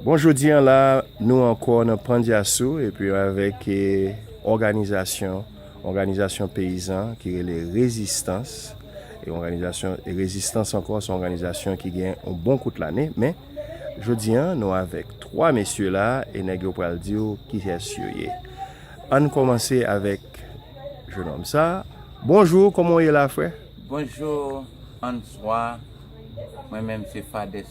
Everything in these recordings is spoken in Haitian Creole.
Bon jodi an la nou ankò nan Pandyasou epi avèk òganizasyon, òganizasyon peyizan ki rele Rezistans, e òganizasyon Rezistans ankò son òganizasyon ki gen yon bon kout lane men jodi an nou avèk 3 mesye la e nèg yo pral di w kiyès yo ye. Ann kòmanse avèk jenòm sa, bonjou kòman w ye la frè? Bonjou, answa, mwen menm se Fadès.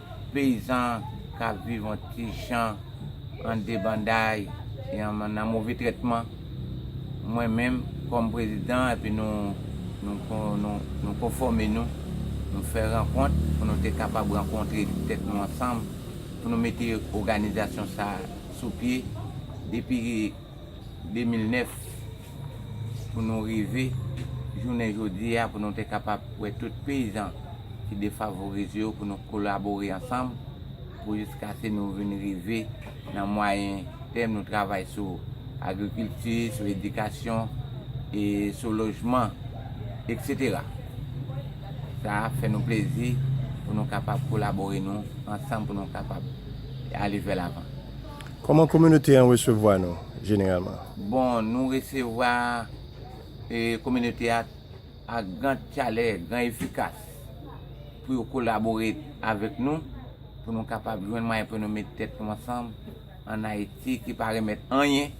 peyizan k ap viv an ti jan, an debanday, e nan move trètman, mwen menm kòm prezidan epi nou konfòme nou, nou fè rankont pou nou te kapab rankontre tèt nou ansanm pou nou mete oganizasyon sa a sou pye depi 2009. pou nou rive jounen jodi a pou nou te kapab wè tout peyizan ki defavorize yo pou nou kolabore ansanm pou jiskase nou vin rive nan mwayen tèm nou travay sou agrikilti, sou edikasyon e sou lojman etc. Sa a fè nou plezi pou nou kapab kolabore nou ansanm pou nou kapab ale vè lavan. Kòman kominote an resevwa nou jeneralman? Bon, nou resevwa kominote a ak gran chalè, gran efikas pou yo kolabore avèk nou, pou nou kapab jwenn mwayen pou nou met tèt nou ansanm an Ayiti ki pa remèt anyen,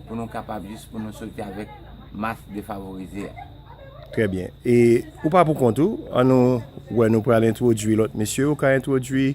pou nou kapab jis pou nou soti avèk mas defavorize a. Trè byen. E ou pa pou kont ou, an nou wè nou pral entwodui lòt mesye ou ka entwodui.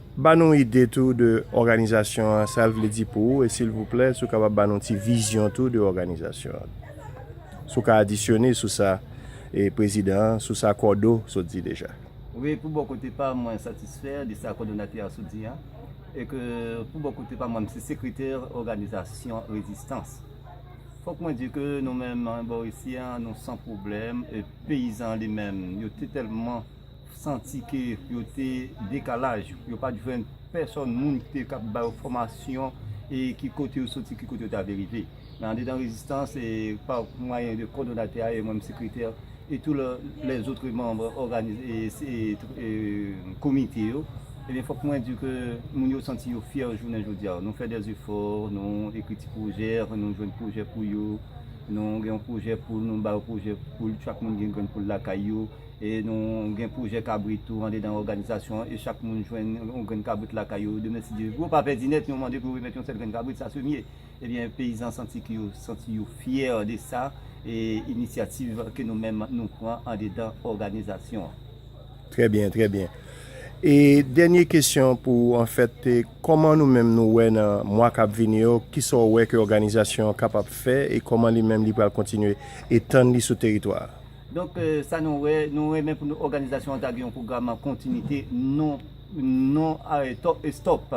Ba nou ide tou de òganizasyon an, sa l vle di pou ou e silvouplè si w kapab ba nou ti vizyon tou de òganizasyon an. Si w ka adisyone sou sa e prezidan an, sou sa Kòdo sot di deja. Wi, pou bò kote pa m mwen satisfè de sa kòdonatè a sot di a e ke pou bò kote pa m mwen m se sekretè òganizasyon rezistans. Fòk mwen di ke nou menm bò isi a nou san pwoblèm e peyizan li menm yo te tèlman. santi ke yo te dekalaj, yo pat jwenn pèsòn moun ki te kab ba yo fòmasyon e ki kote yo soti, ki kote yo ta vle rive. Men andedan Rezistans e pa mwayen de kòdonatè a e mwen menm sekretè e tou lèzotre manm òganis e komite yo, ebyen fòk mwen di ke moun yo santi yo fyè jounen jodi a. Nou fè dè zefò, nou ekri ti pwojè, nou jwenn pwojè pou yo, nou gen yon pwojè pou nou ba yo pwojè pou chak moun gen grenn pou l lakay yo. E nou gen pwojè kabrit tou andedan òganizasyon an e chak moun jwenn yon grenn kabrit lakay yo. Demensidye gwo pa pèdi nèt, nou mande pou remèt yon sèl grenn kabrit sa semye. Ebyen peyizan santi ke yo santi yo fyè de sa e inisyativ ke nou menm nou pran andedan òganizasyon an. Trè byen, trè byen. E dènye kesyon pou ou anfèt, kòman nou menm nou wè nan mwa kap vini yo, kisa w wè ke òganizasyon an kapab fè e kòman li menm li pral kontinye etann li sou teritwa a? Donk, sa nou wè, nou renmen pou nou òganizasyon an ta gen yon pwogram an kontinite, non non stop.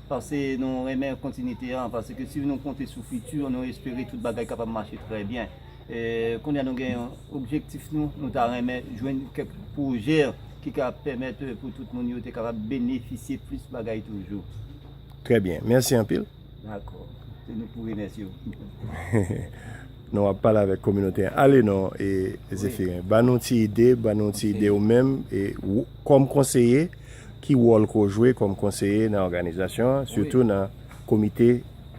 Pase nou renmen kontinite an, paske si nou konte sou fiti, nou espere tout bagay kapab mache trè byen. Kounye a nou gen yon objektif nou, nou ta renmen jwenn kèk pwojè ki ka pèmèt pou tout moun yo te kapab benefisye plis bagay toujou. Trè byen. Mèsi anpil. Dakò. Se nou pou remèsye ou. Non wap pale avèk kominote an. Ale non e Zephirin. Ba nou ti ide, ba nou ti ide ou menm e kòm konseye ki wòl ke w jwe kòm konseye nan òganizasyon an sitou nan komite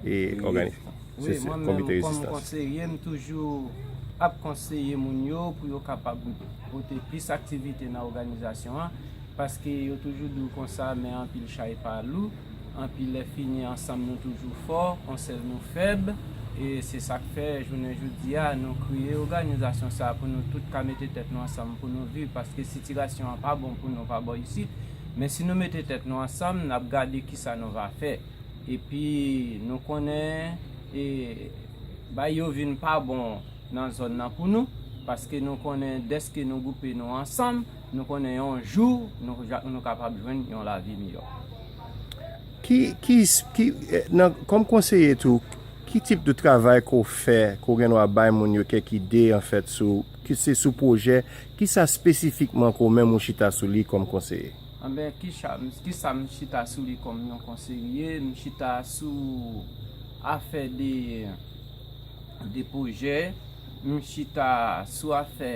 e ògani se se komite rezistans. Wi mwen menm kòm konseye m toujou ap konseye moun yo pou yo kapab pote plis aktivite nan òganizasyon an. Paske yo toujou di w konsa men anpil chay pa lou, anpi lè fini ansanm nou toujou fò, on sèl nou fèb, e se sa k fè jounen jodi a nou kreye oganizasyon sa pou nou tout ka mete tèt nou ansanm pou nou viv paske sitirasyon an pa bon pou nou pa bò isit men si nou mete tèt nou ansanm n ap gade ki sa nou va fè epi nou konnen e bay yo vin pa bon nan zòn nan pou nou paske nou konnen dèske nou goupe nou ansanm. Nou konnen yon jou nou kapab jwenn yon lavi miyò. Kòm konseye tou, ki tip de travay ke w fè, ke w gen dwa bay moun yo kèk ide anfèt sou, ke se sou pwojè, kisa spesifikman ke w menm ou chita sou li kòm konseye? Anben, kisa m chita sou li kòm yon konseye? M chita sou afè de pwojè, m chita sou afè.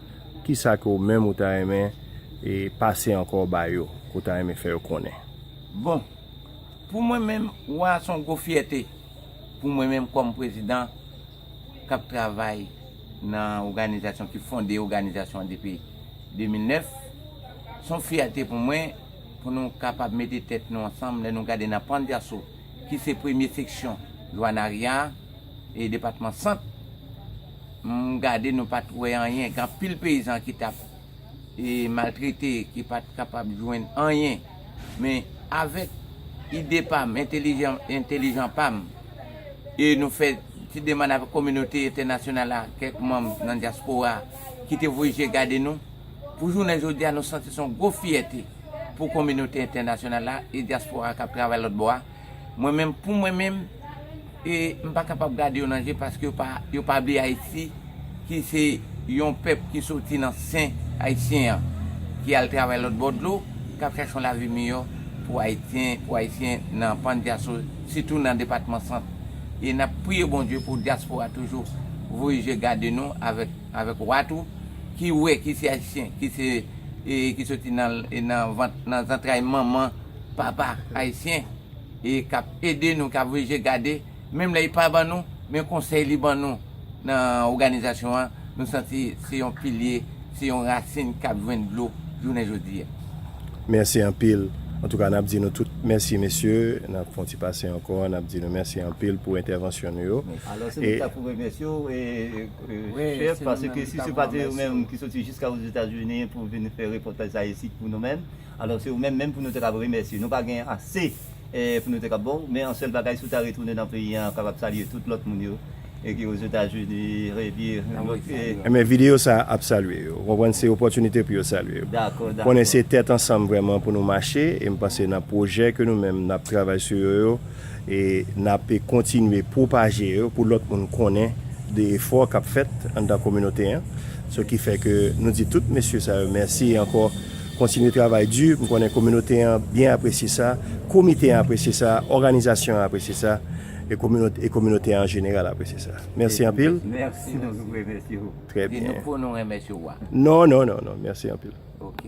Kisa ke ou menm ou ta renmen pase ankò ba yo, ke ou ta renmen fè yo konnen? Bon, pou mwen menm, wa a se yon gwo fyète pou mwen menm kòm prezidan k ap travay nan oganizasyon ki fonde oganizasyon an depi 2009. Se yon fyète pou mwen pou nou kapab mete tèt nou ansanm lè nou gade nan Pandyaso ki se premye seksyon Zwanarya e depatman Sant. M gade nou pat wè anyen gen anpil peyizan ki tap maltrete ki pat kapab jwenn anyen men avèk ide pam entelijan pam e nou fè ti demann avèk kominote entènasyonal la kèk manm nan dyaspora ki te voye je gade nou pou jounen jodi a nou santi son gwo fyète pou kominote entènasyonal la e dyaspora kap travay lòtbò a. Mwen menm pou mwen menm e m pa kapab gade yo nan je paske yo pa yo pa vle Ayiti ki se yon pèp ki soti nan sen Ayisyen an ki al travay lòt bò dlo k ap chache yon lavi miyò pou Ayityen pou Ayisyen nan pan dyaso sitou nan depatman sant e n ap priye Bondye pou dyaspora toujou voye je gade nou avèk avèk wa tou ki wè ki se Ayisyen ki se e ki soti nan nan vant nan zantray manman. papa ayisyen e kap ede nou kap ouvri je gade menm lè li pa ban nou men konsèy li ban nou nan oganizasyon an nou santi se yon pilye se yon rasin kap jwenn dlo jounen jodi a. Mèsi anpil antouka nap di nou tout mèsi mesye nap fon ti pase ankò nap di nou mèsi anpil pou entèvansyon nou yo Alò se nou ki ta pou remèsye w chèf paske si se pa te ou menm ki soti jiska ozetazini pou vin fè repòtaj sa isit pou nou menm. Alò se ou menm menm pou nou te kab remèsye. Nou pa gen ase pou nou te kab ba w, men an sèl bagay si w ta retounen nan peyi an kapab salye tout lòt moun yo ki ozetazini epi lòt e. Enben videyo sa a ap salye yo. Ou konprann se opòtinite pou yo salye yo. Dakò, dakò. Konnen se tèt ansanm vrèman pou nou mache e m panse nan pwojè ke nou menm n ap travay sou yo yo e n ape kontinye pwopaje yo pou lòt moun konnen de efò k ap fèt anndan kominote an. Sou ki fè ke nou di tout mesye sa yo mèsi ankò. Kontinye travay di, m konnen kominote an byen apresye sa, komite an apresye sa, òganizasyon an apresye sa, e kominote an an jeneral apresye sa. Mèsi anpil. Mèsi nou remèsye ou. Trè byen. Di nou pou nou remèsye ou a. Non, non, non, non. Mèsi anpil. Ok.